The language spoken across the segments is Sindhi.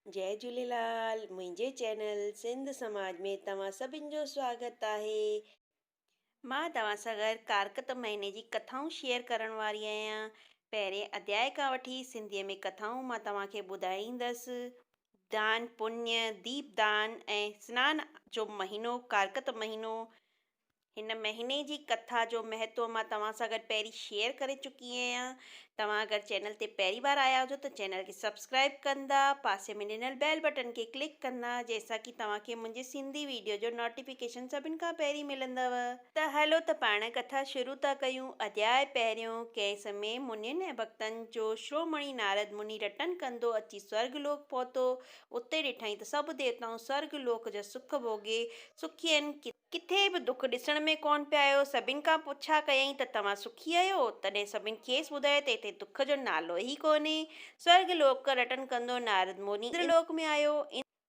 جئي جهوليلال منهنجي چينل سنڌ سماج ۾ توهان سڀن جو سواگت آهي. مان توهان سان گڏ ڪارڪت مهيني جي ڪٿائون شيئر ڪرڻ واري آهيان پهرين اڌياء کان وٺي سنڌي ۾ ڪٿائون مان توهان کي ٻڌائيندس دان پڃ ديپ دان ۽ سنان جو مهينو ڪارڪت مهينو هن مهيني جي ڪٿا جو مهتو مان توهان سان گڏ پهرين شيئر ڪري چڪي آهيان. توهان اگر چينل تي پهرين بار آيا هجو ته چينل کي سبسڪرائيب ڪندا، پاسي ۾ ڏنل بيل بٽن کي ڪلڪ ڪندا جنهن سان ڪي توهان کي منهنجي سنڌي ويڊيو جو نوٽيفڪيشن سڀن کان پهرين ملندو. ته هلو ته پاڻ ڪٿا شروع ٿا ڪيون. اڌياء پهريون، ڪنهن سمي منين ۽ ڀڳتن جو شرومڻي نارد مني رٽن ڪندو اچي سورڳ لوڪ پهتو. اتي ڏٺائين ته سڀ ديوتائون سورڳ لوڪ جا سک ڀوڳي سکين. ڪٿا. ڪٿي به دک ڏسڻ ۾ ڪونه پيا آيو. سڀن کان پڇا ڪيائين ته توهان سکي آهيو؟ تڏهن سڀن کيس ٻڌايو ته هتي دک جو نالو ئي ڪونهي. سورڳ لوڪ رٽن ڪندو نارد موني اندر لوڪ ۾ آيو.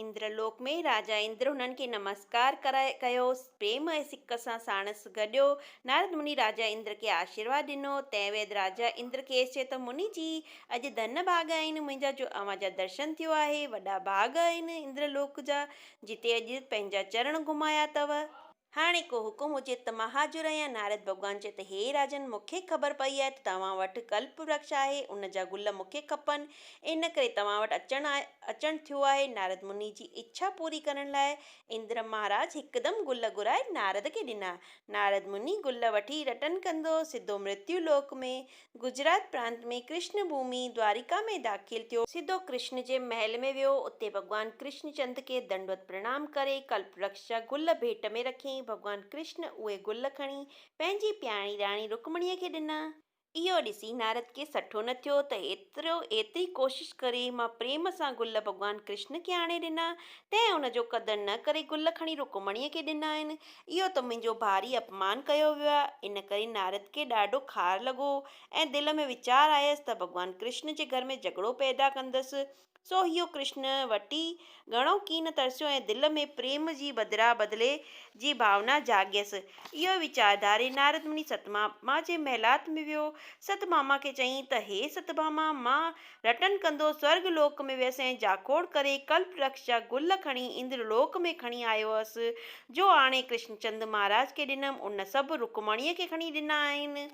اندر لوڪ ۾ راجا اندر هنن کي نمسڪار ڪرائي ڪيو. پريم ۽ سڪ سان ساڻس گڏيو. نارد مني راجا اندر کي آشيرواد ڏنو. تنهن ويد راجا اندر کيس چيو ته مني جي! اڄ ڌن ڀاڳ آهن منهنجا جو اوهان جا درشن ٿيو آهي. وڏا ڀاڳ آهن اندر لوڪ جا. جتي اڄ پنهنجا چرڻ گهمايا اٿو. هاڻي ڪو حڪم هجي ته مهاجر يا نارد ڀڳوان چئي ته هي راجن مون کي خبر پئي آهي ته توهان وٽ ڪلپ ورڪش آهي، ان جا گل مون کي کپن، ان ڪري توهان وٽ اچڻ اچڻ ٿيو آهي. نارد مني جي اڇا پوري ڪرڻ لاء اندر مهاراج هڪدم گل گهرائي نارد کي ڏنا. نارد مني گل وٺي رٽن ڪندو سڌو مرتيو لوڪ ۾ گجرات پرانت ۾ ڪرشن ڀومي دواريڪا ۾ داخل ٿيو. سڌو ڪرشن جي محل ۾ ويو، اتي ڀڳوان ڪرشن چند کي دنڊوت پرڻام ڪري ڪلپ ورڪش جا گل ڀيٽ ۾ رکيائين، ڀڳوان ڪرشن اهي گل کڻي پنهنجي پيارڻي راڻي رڪمڻيء کي ڏنا. اهو ڏسي نارد کي سٺو نه ٿيو ته ايترو ايتري ڪوشش ڪري مان پريم سان گل ڀڳوان ڪرشن کي آڻي ڏنا، تنهن ان جو قدر نه ڪري گل کڻي رڪمڻيء کي ڏنا آهن، اهو ته منهنجو ڀاري اپمان ڪيو ويو آهي. ان ڪري نارد کي ڏاڍو خار لڳو ۽ دل ۾ ويچار آيس ته ڀڳوان ڪرشن جي گهر ۾ جهڳڙو پيدا ڪندس. سو هيو ڪرشن وٽي گهڻو ڪين ترسيو ۽ دل ۾ پريم جي بدران بدلي جي ڀاونا جاڳيس. اهو ئي ويچار ڌاري نارد مني ستڀاما جي محلات ۾ ويو. ستڀاما کي چيائين ته هي ستڀاما! مان رٽن ڪندو سورڳ لوڪ ۾ ويس ۽ جاکوڙ ڪري ڪلپ رڪش جا گل کڻي اندر لوڪ ۾ کڻي آيو هئس، جو آڻي ڪرشن چند مهاراج کي ڏنم، ان سڀ رڪمڻيء کي کڻي ڏنا آهن.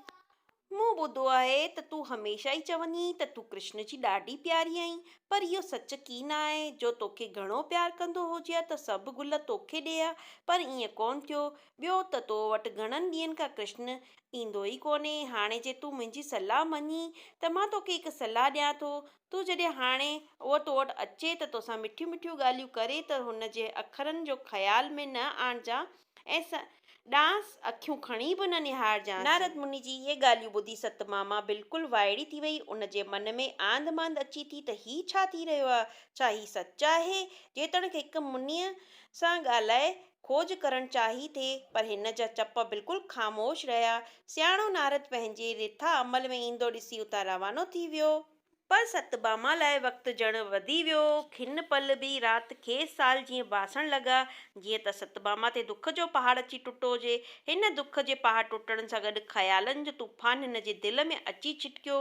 مون ٻڌو آهي ته تون هميشه ئي چوندينء ته تون ڪرشن جي ڏاڍي پياري آهين، پر اهو سچ ڪي نه آهي، جو توکي گهڻو پيار ڪندو هجي ها ته سڀ گل توکي ڏئي ها، پر ائين ڪونه ٿيو، ٻيو ته تو وٽ گهڻن ڏينهن کان ڪرشن ايندو ئي ڪونهي. هاڻي جي تون منهنجي صلاح مڃين ته مان توکي هڪ صلاح ڏيان ٿو. تون جڏهن هاڻي هوء تو وٽ اچي ته توسان مٺيون مٺيون ڳالهيون ڪري ته هن جي اکرن جو خيال ۾ نه آڻجان ۽ سندانس اکيون کڻي به نه نهارجانس. نارد مني جي اهي ڳالهيون ٻڌي ست ماما بلڪل وائڙي ٿي وئي. ان جي من ۾ آنڌ مانڌ اچي ٿي ته هي ڇا ٿي رهيو آهي؟ ڇا هي سچ آهي؟ جيتوڻيڪ هڪ منيء سان ڳالهائي کوج ڪرڻ چاهي ٿي، پر هن جا چپ بلڪل خاموش رهيا. سياڻو نارد پنهنجي رٿا عمل ۾ ايندو ڏسي اتان روانو ٿي ويو. پر ستباما لاء وقت ڄڻ وڌي ويو. کن پل به رات کيس سال جيئن باسڻ لڳا. جيئن ته ستباما تي دک جو پهاڙ اچي ٽٽو هجي. هن دک جي پهاڙ ٽٽڻ سان گڏ خيالن جو طوفان هن جي دل ۾ اچي ڇٽڪيو.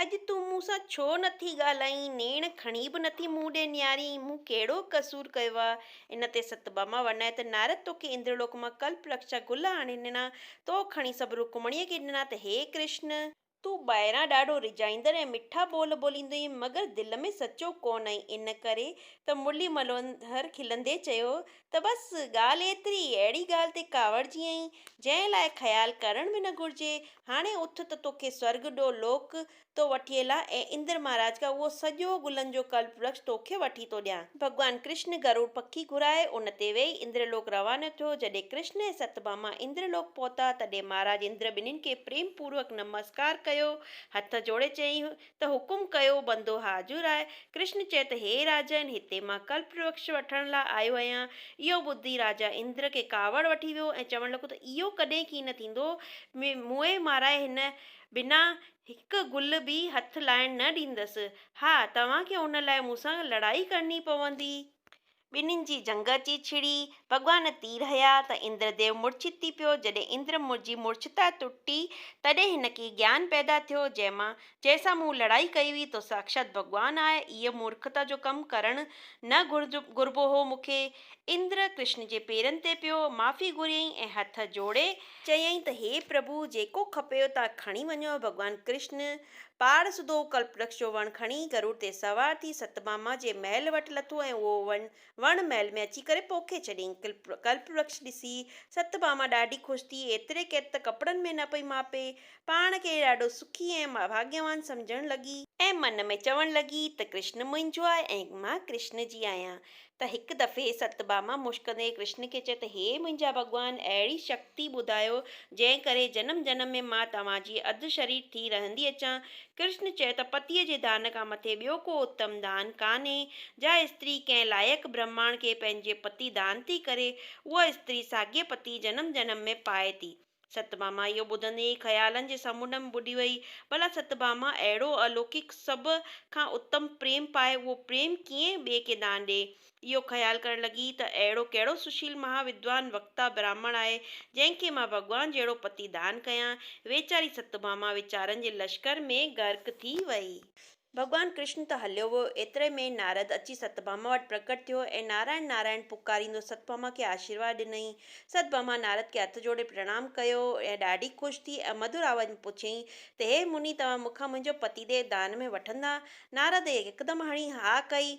اڄ تون مون سان ڇو نٿي ڳالهائين، نيڻ کڻي به نٿي مون ڏي نهارين، مون ڪهڙو قصور ڪيو آ؟ ان تي ستڀاما ورنائي ته نارد توکي اندرلوڪ مان ڪلپرڪش جا گل آڻي ڏنا، تو کڻي سڀ رڪمڻيء کي ڏنا ته هي ڪرشن! تون ٻاهران ڏاڍو ريجهائيندڙ ۽ مٺا ٻول ٻوليندو آهين، مگر دل ۾ سچو ڪونه آهين، ان ڪري ته مرلي منوهر کلندي چيو ته بس ڳالهه ايتري، اهڙي ڳالهه تي ڪاوڙجي ائين، جنهن لاء خيال ڪرڻ به نه گهرجي. هاڻي اٿ ته توکي سورڳ ڏو لوڪ ٿو وٺي هلان ۽ اندر مهاراج کان اهو سڄو گلن جو ڪلپ ورڪش توکي وٺي ٿو ڏيان. ڀڳوان ڪرشن گروڙ پکي گهرائي ان تي ويهي اندر لوڪ روانو ٿيو. جڏهن ڪرشن ۽ ست ڀاما اندر لوڪ پهتا، تڏهن مهاراج اندر ٻنهين کي پريم پوروڪ نمسڪار ڪيو، هٿ جوڙي چيائين، ته حڪم ڪيو بندو حاضر آهي. ڪرشن چئي ته هي راجن، هتي مان ڪلپوٽرڪش وٺڻ لاء آيو آهيان. اهو ٻڌي راجا اندر کي ڪاوڙ وٺي ويو ۽ چوڻ لڳو ته اهو ڪڏهن ڪين نه ٿيندو. مونء مارائي هن بنا هڪ گل به هٿ لائڻ نه ڏيندس. ها، توهان کي ان لاء مون سان لڙائي ڪرڻي پوندي. ٻنهين جي جنگ اچي ڇڙي، ڀڳوان تير هنيا ته اندر ديو مورڇت ٿي پيو، جڏهن اندر جي مورڇتا ٽٽي، تڏهن هن کي گيان پيدا ٿيو، جنهن مان، جنهن سان مون لڙائي ڪئي هئي، تو ساکشات ڀڳوان آهي، اهي مورکتا جو ڪم ڪرڻ نه گهربو هو مون کي. اندر، ڪرشن جي پيرن تي پيو، معافي گهريائين ۽ هٿ جوڙي، چيائين ته هي پرڀو جيڪو کپيو تا کڻي وڃو، ڀڳوان ڪرشن پاڙ سڌو ڪلپرڪش جو وڻ کڻي گروڙ تي سوار ٿي ستباما جي محل وٽ لٿو ۽ اهو وڻ وڻ محل ۾ اچي ڪري پوکي ڇڏيائين. ڪلپرڪش ڏسي ستباما ڏاڍي خوش ٿي، ايتري قيد ته ڪپڙن ۾ نه پئي ماپي. پاڻ کي ڏاڍو سکي ۽ ڀاڳيوان سمجهڻ لڳي. ۽ من ۾ چوڻ لڳي ته ڪرشن منهنجو آهي ۽ مان ڪرشن جي آهيان. ته هڪ دفعي ستباما مشڪندي ڪرشن کي چئي ته هي منهنجا ڀڳوان اهڙي شڪتي ٻڌايو جنهن ڪري جنم جنم ۾ مان توهان جي اڌ شرير ٿي رهندي اچان. ڪرشن چيو ته پتيء جي دان کان مٿي ٻيو ڪو اتم دان ڪانهي. جا استري ڪنهن لائق برهماڻ کي پنهنجي پتي دان ٿي ڪري اها استري ساڳئي پتي جنم جنم ۾ پائي ٿي. ستڀاما اهو ٻڌندي ئي خيالن جي سمنڊ ۾ ٻڏي ويئي. ڀلا ستڀاما اهڙو الوڪڪ سڀ کان اتم پريم پائي اهو پريم ڪيئن ٻئي کي دان ڏئي. اهو خيال ڪرڻ لڳي ته اهڙو ڪهڙو سشيل مها ودوان وڪتا براهمڻ آهي جنهن کي مان ڀڳوان جهڙو پتي دان ڪيان. ويچاري ستڀاما ويچارن جي لشڪر ۾ غرق ٿي ويئي. ڀڳوان ڪرشن ته هليو ويو، ايتري ۾ ئي نارد اچي ستڀاما وٽ پرڪٽ ٿيو ۽ نارائڻ نارائڻ پڪاريندو ستڀاما کي آشيرواد ڏنائين. ستڀاما نارد کي هٿ جوڙي پرڻام ڪيو ۽ ڏاڍي خوش ٿي ۽ مڌر آواز ۾ پڇيائين ته هي مني توهان مون کان منهنجو پتي ديو دان ۾ وٺندا؟ نارد هڪدم هڻي ها ڪئي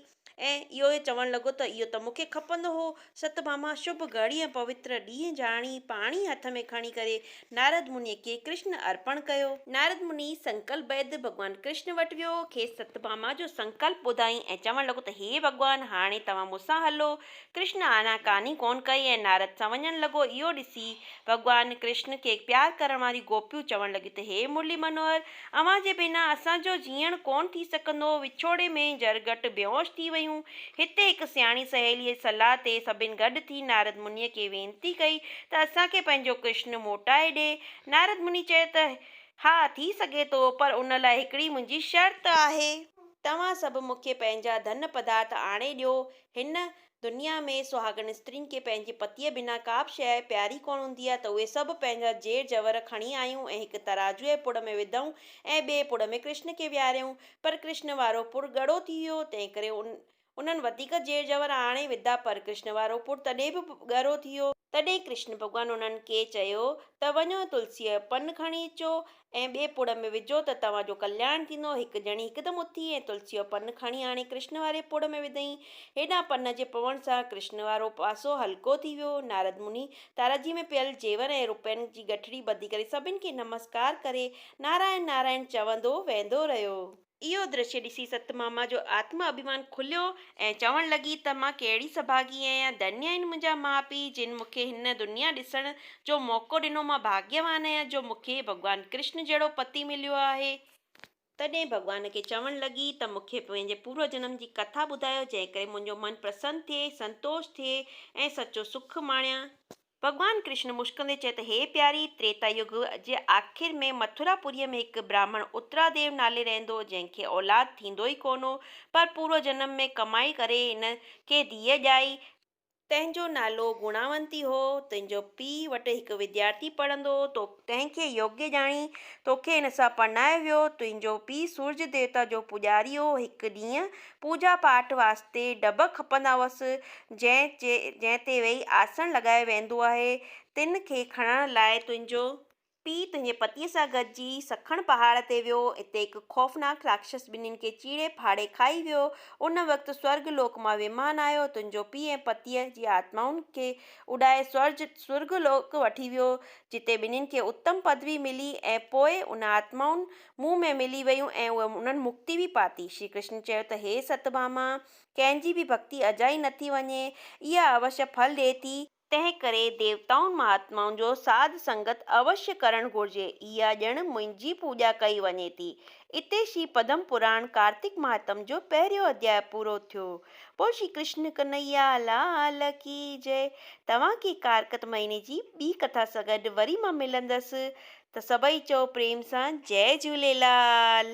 ۽ اهو ئي چوڻ لڳو ته اهو ته مون کي کپندو هو. ست ڀاما شڀ گهڙي ۽ پوتر ڏينهن جاڻي پاڻي هٿ ۾ کڻي ڪري نارد منيء کي ڪرشن ارپڻ ڪيو. نارد مني سنڪلپ بيد ڀڳوان ڪرشن وٽ ويو، کيس ست ڀاما جو سنڪلپ ٻڌائين ۽ چوڻ لڳو ته هي ڀڳوان هاڻي توهان مون سان هلو، ڪرشن آنا ڪاني ڪونه ڪئي ۽ نارد سان وڃڻ لڳو. اهو ڏسي ڀڳوان ڪرشن کي پيار ڪرڻ واريون گوپيون چوڻ لڳيون ته هي مرلي منوهر! اوهان جي بنا اسان جو جيئڻ ڪونه ٿي سگهندو. وڇوڙي ۾ جرڳٽ بيهوش ٿي ويون. هتي هڪ سياڻي سهيليء جي صلاح تي سڀني گڏ ٿي نارد منيء کي وينتي ڪئي ته اسان کي پنهنجو ڪرشن موٽائي ڏي. نارد مني چيو ته ها ٿي سگهي ٿو پر ان لاء هڪڙي منهنجي شرط آهي. توهان سڀ مون کي پنهنجا ڌن پڌارٿ آڻي ڏيو. هن دنيا ۾ سهاڳن استرين کي پنهنجي پتيء بنا ڪا به شيء پياري ڪونه هوندي آهي ته اهي سڀ پنهنجا زير زيور کڻي آيون ۽ هڪ ترازوء جي پڙ ۾ وڌئون ۽ ٻئي پڙ ۾ ڪرشن کي ويهاريائون پر ڪرشن وارو پڙ ڳڙو ٿي ويو تنهنڪري انهن وڌيڪ زير زيور آڻي وڌا پر ڪرشن وارو پڙ تڏهن به ڳرو ٿي ويو. تڏهن ڪرشن ڀڳوان انهن کي چيو ته وڃو تلسيء جو پن کڻي اچو ۽ ٻئي پڙ ۾ وجهو ته توهان جو ڪلياڻ ٿيندو. هڪ ڄڻي هڪدم اٿي ۽ تلسيء جو پن کڻي آڻي ڪرشن واري پڙ ۾ وڌئين. هيڏانهن پن جي پوڻ سان ڪرشن وارو پاسو هلڪو ٿي ويو. نارد مني تارجي ۾ پيل زيور ۽ روپين جي ڳٺڙي ٻڌي ڪري سڀن کي نمسڪار ڪري نارائڻ نارائڻ چوندو ويندو رهيو. اهو درشي ڏسي ستماما جو آتم اڀيمان کليو ۽ چوڻ لڳي ته مان ڪهڙي سڀاڳي آهيان، ڌنيا آهن منهنجا ماء پيء جن مون کي هن دنيا ڏسڻ جو موقعو ڏنو، مان ڀاڳيوان آهيان جو مون کي ڀڳوان ڪرشن جهڙو پتي مليو آهي. تڏهن ڀڳوان کي چوڻ لڳي ته مون کي پنهنجي پورو جنم جي ڪٿا ٻڌايو جنهن ڪري منهنجو من پرسن ٿئي، سنتوش ٿئي ۽ سچو سک ماڻيان. ڀڳوان ڪرشن مشڪندي چيو ته هي پياري! تريتا يگ جي آخر ۾ مٿورا پوريء ۾ هڪ براهمڻ اترا ديو نالي رهندو، جنهن کي اولاد ٿيندو ئي ڪونه هو، پر پورو جنم ۾ ڪمائي ڪري هن کي ڌيء ڄائي، تنهن جو نالو گڻاونتي هو، تنهنجو پيء وٽ هڪ وديارٿي پڙهندو هو، تو کي. تنهن کي يوگي ڄاڻي، توکي هن سان پرڻايو ويو. تنهنجو پيء سورج ديوتا جو پوڄاري هو. هڪ ڏينهن پوڄا پاٺ واسطي ڊڀ کپندا هئس، جنهن جنهن تي ويهي آسڻ لڳايو ويندو آهي، تن کي کڻڻ لاء تنهنجو پيء تنهنجي پتيء سان گڏجي سکڻ پهاڙ تي ويو. اتي هڪ خوفناڪ راڪشس ٻنين کي چيڙي ڦاڙي کائي ويو. ان وقت سورگ لوڪ مان ويمان آيو، تنهنجو پيء ۽ پتيء جي آتمائن کي اڏائي سورج سورگ لوڪ وٺي ويو، جتي ٻنهين کي اتم پدوي ملي ۽ پوء ان آتمائن مون ۾ ملي ويون ۽ اهي انهن مڪتي به پاتي. شري ڪرشن چيو ته هي ستڀاما! ڪنهن جي به ڀڳتي اجائي نه ٿي وڃي، اها اوشيه ڦل ڏئي ٿي، تنهنڪري ديوتائن مهاتمائن جو ساڌ سنگت اوشيه ڪرڻ گهرجي، اها ڄڻ منهنجي پوڄا ڪئي وڃي ٿي، اتي شري پدم پراڻ ڪارتڪ مهاتم جو پهريون اڌياء پورو ٿيو. بول شري ڪرشن ڪنهيا لال ڪي جئه. توهان کي ڪارڪت مهيني جي ٻي ڪٿا سان گڏ وري مان ملندس ته سڀئي چئو پريم سان جئه جهوليلال.